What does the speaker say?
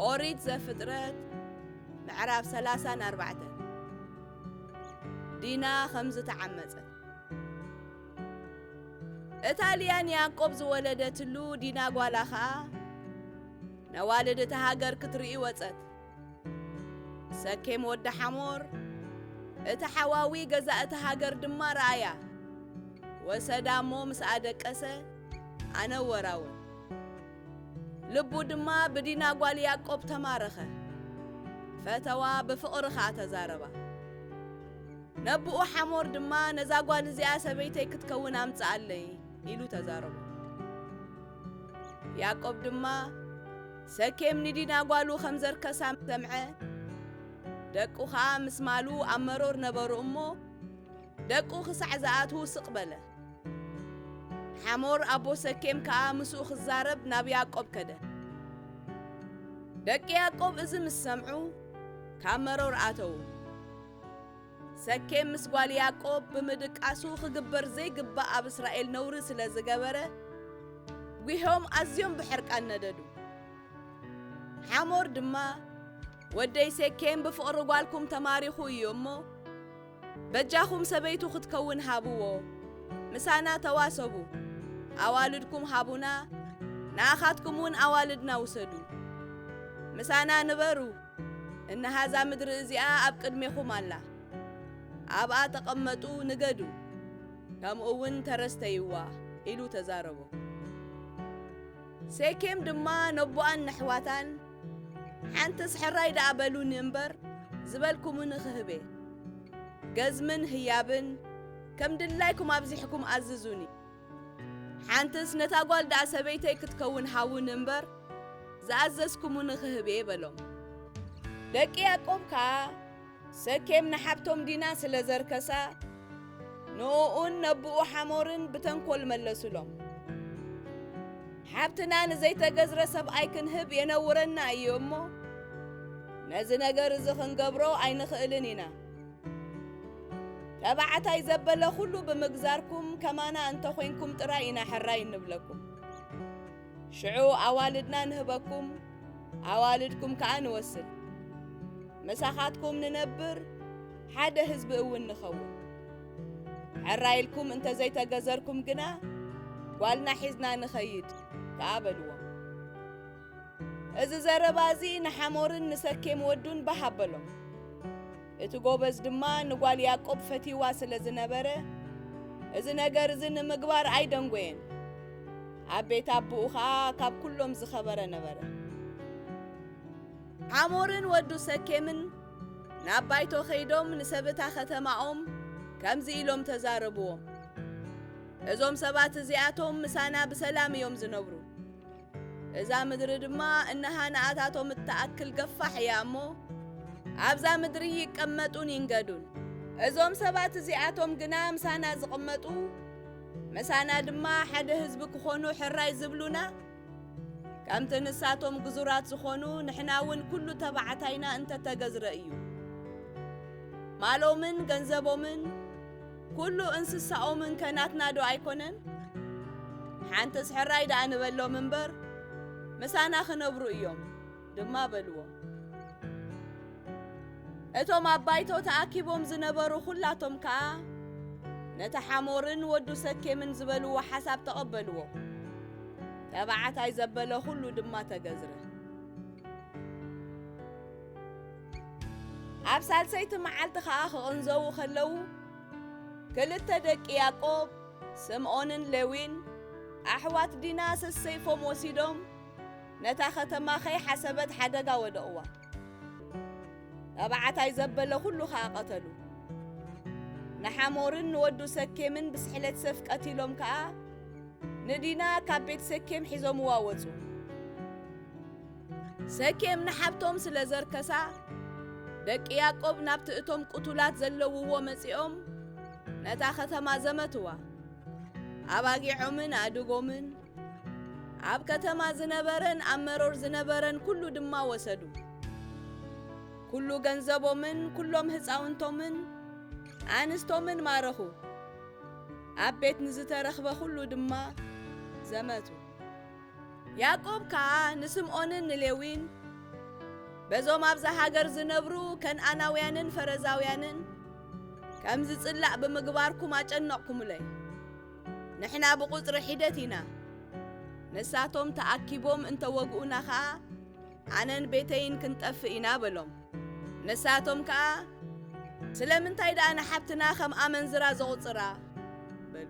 ኦሪት ዘፍጥረት ምዕራፍ 34 ዲና ከም ዝተዓመጸት እታ ልያ ንያዕቆብ ዝወለደትሉ ዲና ጓላ ኸኣ ነዋልድ እታ ሃገር ክትርኢ ወጸት ሰኬም ወዲ ሓሞር እቲ ሓዋዊ ገዛ እቲ ሃገር ድማ ረኣያ ወሰዳ እሞ ምስ ኣደቀሰ ኣነ ወራውን ልቡ ድማ ብዲና ጓል ያዕቆብ ተማረኸ ፈተዋ ብፍቕሪ ኸኣ ተዛረባ ነብኡ ሓሞር ድማ ነዛ ጓል እዚኣ ሰበይተይ ክትከውን ኣምጽኣለይ ኢሉ ተዛረቡ ያዕቆብ ድማ ሰኬም ንዲና ጓሉ ኸም ዘርከሳ ምስ ሰምዐ፣ ደቁ ኸኣ ምስ ማሉ ኣብ መሮር ነበሩ እሞ፣ ደቁ ኽሳዕ ዝኣትዉ ስቕ በለ። ሓሞር ኣቦ ሰኬም ከኣ ምስኡ ኽዛረብ ናብ ያእቆብ ከደ። ደቂ ያእቆብ እዚ ምስ ሰምዑ፣ ካብ መሮር ኣተዉ። ሰኬም ምስ ጓል ያዕቆብ ብምድቃሱ ኽግበር ዘይግባእ ኣብ እስራኤል ነውሪ ስለ ዝገበረ ጒሖም ኣዝዮም ብሕርቃን ነደዱ። ሓሞር ድማ ወደይ ሴኬም ብፍቕሪ ጓልኩም ተማሪኹ እዩ እሞ በጃኹም ሰበይቱ ክትከውን ሃብዎ፣ ምሳና ተዋሰቡ፣ ኣዋልድኩም ሃቡና፣ ንኣኻትኩም እውን ኣዋልድና ውሰዱ፣ ምሳና ንበሩ፣ እንሃ'ዛ ምድሪ እዚኣ ኣብ ቅድሜኹም ኣላ፣ ኣብኣ ተቐመጡ፣ ንገዱ፣ ከምኡ'ውን ተረስተይዋ፣ ኢሉ ተዛረቦ። ሴኬም ድማ ነቦኣን ነሕዋታን፣ ሓንትስ ሕራይ ደኣ በሉኒ እምበር፣ ዝበልኩሙኒ ኽህቤ። ገዝምን ህያብን ከም ድላይኩም ኣብዚሕኩም ኣዝዙኒ። ሓንትስ ነታ ጓል ደኣ ሰበይተይ ክትከውን ሃቡኒ እምበር፣ ዝኣዘዝኩሙኒ ኽህብ እየ በሎም። ደቂ ያእቆብ ከኣ፣ ሰኬም ንሓብቶም ዲና ስለ ዘርከሳ፣ ንእኡን ነቦኡ ሓሞርን ብተንኰል መለሱሎም። ሓብትና ንዘይተገዝረ ሰብኣይ ክንህብ የነውረና እዩ እሞ፣ ነዚ ነገር እዚ ኽንገብሮ ኣይንኽእልን ኢና። ተባዕታይ ዘበለ ኩሉ ብምግዛርኩም ከማና እንተኾይንኩም ጥራይ ኢና ሕራይ እንብለኩም። ሽዑ ኣዋልድና ንህበኩም፣ ኣዋልድኩም ከኣ ንወስድ። ምሳኻትኩም ንነብር፣ ሓደ ህዝቢ እውን ንኸውን። ሕራይ ኢልኩም እንተዘይተገዘርኩም ግና ጓልና ሒዝና ንኸይድ ከኣ በልዎም። እዚ ዘረባ እዚ ንሓሞርን ንሰኬም ወዱን ባህ ኣበሎም። እቲ ጎበዝ ድማ ንጓል ያዕቆብ ፈትይዋ ስለ ዝነበረ እዚ ነገር እዚ ንምግባር ኣይደንጎየን። ኣብ ቤት ኣቦኡ ኸኣ ካብ ኵሎም ዝኸበረ ነበረ። ሓሞርን ወዱ ሰኬምን ናብ ባይቶ ኸይዶም ንሰብታ ኸተማኦም ከምዚ ኢሎም ተዛረብዎም፣ እዞም ሰባት እዚኣቶም ምሳና ብሰላም እዮም ዝነብሩ። እዛ ምድሪ ድማ እነሃንኣታቶም እትኣክል ገፋሕ እያ እሞ ኣብዛ ምድሪ ይቀመጡን ይንገዱን። እዞም ሰባት እዚኣቶም ግና ምሳና ዝቕመጡ ምሳና ድማ ሓደ ህዝቢ ክኾኑ ሕራይ ዝብሉና ከምቲ ንሳቶም ግዙራት ዝኾኑ ንሕና እውን ኩሉ ተባዕታይና እንተተገዝረ እዩ ማሎምን ገንዘቦምን ኩሉ እንስሳኦምን ከ ናትና ዶ ኣይኮነን? ሓንትስ ሕራይ ደኣ ንበሎም እምበር ምሳና ክነብሩ እዮም ድማ በልዎ። እቶም ኣብ ባይቶ ተኣኪቦም ዝነበሩ ኩላቶም ከኣ ነቲ ሓሞርን ወዱ ሰኬምን ዝበልዎ ሓሳብ ተቐበልዎ። ተባዕታይ ዘበለ ኩሉ ድማ ተገዝረ። ኣብ ሳልሰይቲ መዓልቲ ኸኣ ክቕንዘዉ ኸለዉ ክልተ ደቂ ያዕቆብ ስምዖንን ሌዊን ኣሕዋት ዲና ሰሰይፎም ወሲዶም ነታ ኸተማ ኸይሓሰበት ሓደጋ ወደቕዋ ተባዕታይ ዘበለ ዅሉ ኸኣ ቐተሉ ንሓሞርን ንወዱ ሰኬምን ብስሕለት ሰፍ ቀቲሎም ከኣ ንዲና ካብ ቤት ሰኬም ሒዞምዋ ወጹ ሰኬም ንሓብቶም ስለ ዘርከሳ ደቂ ያዕቆብ ናብቲ እቶም ቅቱላት ዘለውዎ መጺኦም ነታ ኸተማ ዘመትዋ ኣባጊዖምን ኣእድጎምን ኣብ ከተማ ዝነበረን ኣብ መሮር ዝነበረን ኩሉ ድማ ወሰዱ ኩሉ ገንዘቦምን ኩሎም ህፃውንቶምን ኣንስቶምን ማረኹ ኣብ ቤት ንዝተረኽበ ኩሉ ድማ ዘመቱ ያእቆብ ከኣ ንስምኦንን ንሌዊን በዞም ኣብዛ ሃገር ዝነብሩ ከንኣናውያንን ፈረዛውያንን ከም ዝጽላእ ብምግባርኩም ኣጨነቕኩምለይ። ንሕና ብቝጽሪ ሒደት ኢና፣ ንሳቶም ተኣኪቦም እንተ ወግኡና ኸኣ ኣነን ቤተይን ክንጠፍእ ኢና በሎም። ንሳቶም ከኣ ስለምንታይ ደኣ ንሓብትና ኸም ኣመንዝራ ዜቝጽራ? በሉ።